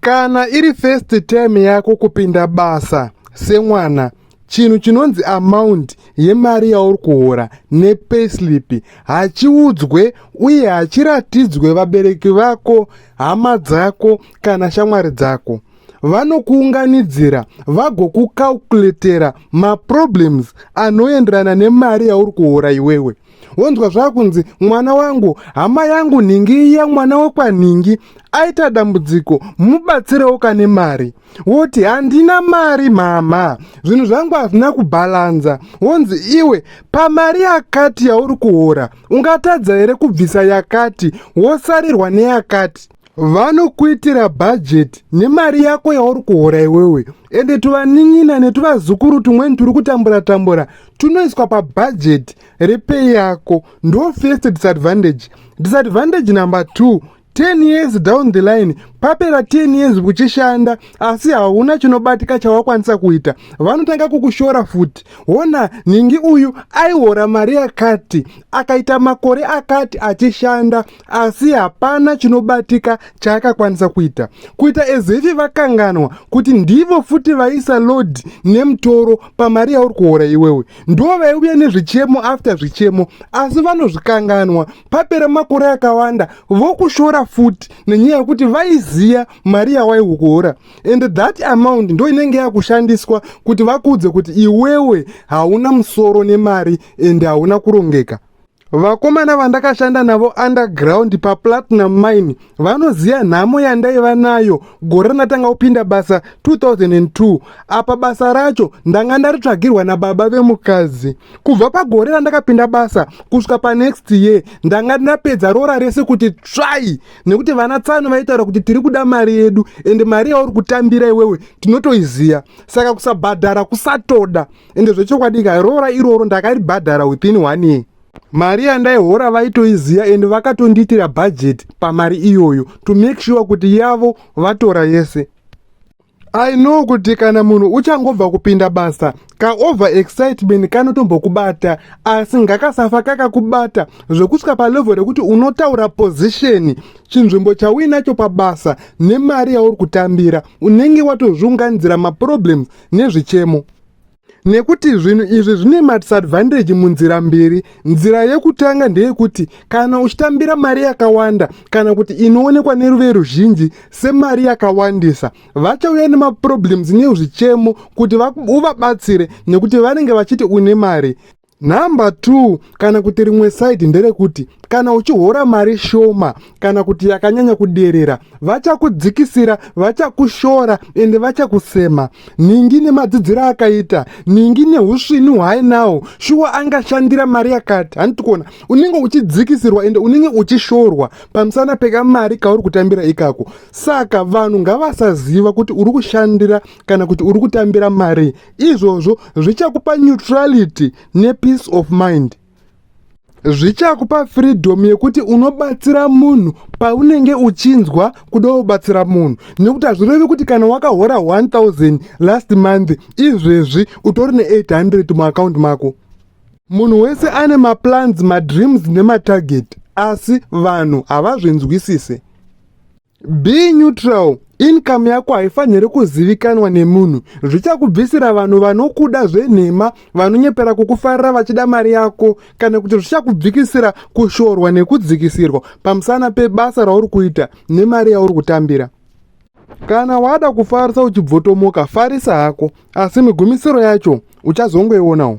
Kana iri first time yako kupinda basa semwana, chinhu chinonzi amount yemari yauri kuhora nepayslip hachiudzwe uye hachiratidzwe vabereki vako, hama dzako kana shamwari dzako. Vanokuunganidzira vagokukaukuletera maproblems anoenderana nemari yauri kuhora iwewe. wonzwa zvakunzi mwana wangu hama yangu nhingi iya mwana wekwanhingi aita dambudziko mubatsirewo kane mari woti handina mari mhamha zvinhu zvangu hazvina kubhalanza wonzi iwe pamari yakati yauri kuhora ungatadza here kubvisa yakati wosarirwa neyakati vanokuitira bhajeti nemari yako yauri kuhora iwewe ende tuvanin'ina netuvazukuru tumweni turi kutambura tambura tunoiswa pabhajeti repei yako ndo first disadvantage disadvantage number two 10 years down the line papera 10 years kuchishanda asi hauna chinobatika chawakwanisa kuita vanotanga kukushora futi hona nhingi uyu aihora mari yakati akaita makore akati achishanda asi hapana chinobatika chaakakwanisa kuita kuita ezefi vakanganwa kuti ndivo futi vaisa lodi nemutoro pamari yauri kuhora iwewe ndo vaiuya nezvichemo after zvichemo asi vanozvikanganwa papera makore akawanda vokushora futi nenyaya yekuti vaiziya mari yawaihu kuhora and that amount ndo inenge yakushandiswa kuti vakuudze kuti iwewe hauna musoro nemari and hauna kurongeka Vakomana vandakashanda navo underground paPlatinum Mine vanoziva nhamo yandaiva nayo gore randatanga kupinda basa 2002. Apa basa racho ndanga ndaritsvagirwa nababa vemukadzi. Kubva pagore randakapinda basa kusvika panext year ndanga ndapedza roora rese kuti tsvai nekuti vana tsano vaitaura kuti tiri kuda mari yedu ende mari yauri kutambira iwewe tinotoiziva saka kusabhadhara kusatoda. ende zvechokwadi ka roora iroro ndakaribhadhara within one year mari yandaihora vaitoiziva ende vakatondiitira bhajeti pamari iyoyo to make sure kuti yavo vatora yese I know kuti kana munhu uchangobva kupinda basa ka over excitement kanotombokubata asi ngakasafa kakakubata zvekusvika palevel rekuti unotaura position chinzvimbo chauinacho pabasa nemari yauri kutambira unenge watozviunganidzira maproblems nezvichemo nekuti zvinhu izvi zvine madisadvantage munzira mbiri nzira yekutanga ndeyekuti kana uchitambira mari yakawanda kana kuti inoonekwa neruve ruzhinji semari yakawandisa vachauya nemaproblems nezvichemo kuti uvabatsire nekuti vanenge vachiti une mari Number two, kana kuti rimwe side nderekuti kana uchihora mari shoma kana kuti yakanyanya kuderera vachakudzikisira vachakushora ende vachakusema ningi nemadzidziro akaita ningi neusvini hwaainawo shuwa angashandira mari yakati handiti kuona unenge uchidzikisirwa ende unenge uchishorwa pamusana pekamari kauri kutambira ikako saka vanhu ngavasaziva kuti uri kushandira kana kuti uri kutambira mari izvozvo zvichakupa neutrality nepeace of mind zvichakupa freedom yekuti unobatsira munhu paunenge uchinzwa kuda kubatsira munhu nekuti hazvirevi kuti kana wakahora 1000 last month izvezvi utori ne800 muakaunti mako munhu wese ane maplans madreams nematarget asi vanhu havazvinzwisise Be neutral. Income yako haifaniri kuzivikanwa nemunhu. Zvichakubvisira vanhu vanokuda zvenhema, vanonyepera kukufarira vachida mari yako, kana kuti zvichakubvikisira kushorwa nekudzikisirwa pamusana pebasa rauri kuita nemari yauri kutambira. Kana wada kufarisa uchibvotomoka, farisa hako, asi migumisiro yacho uchazongoionawo.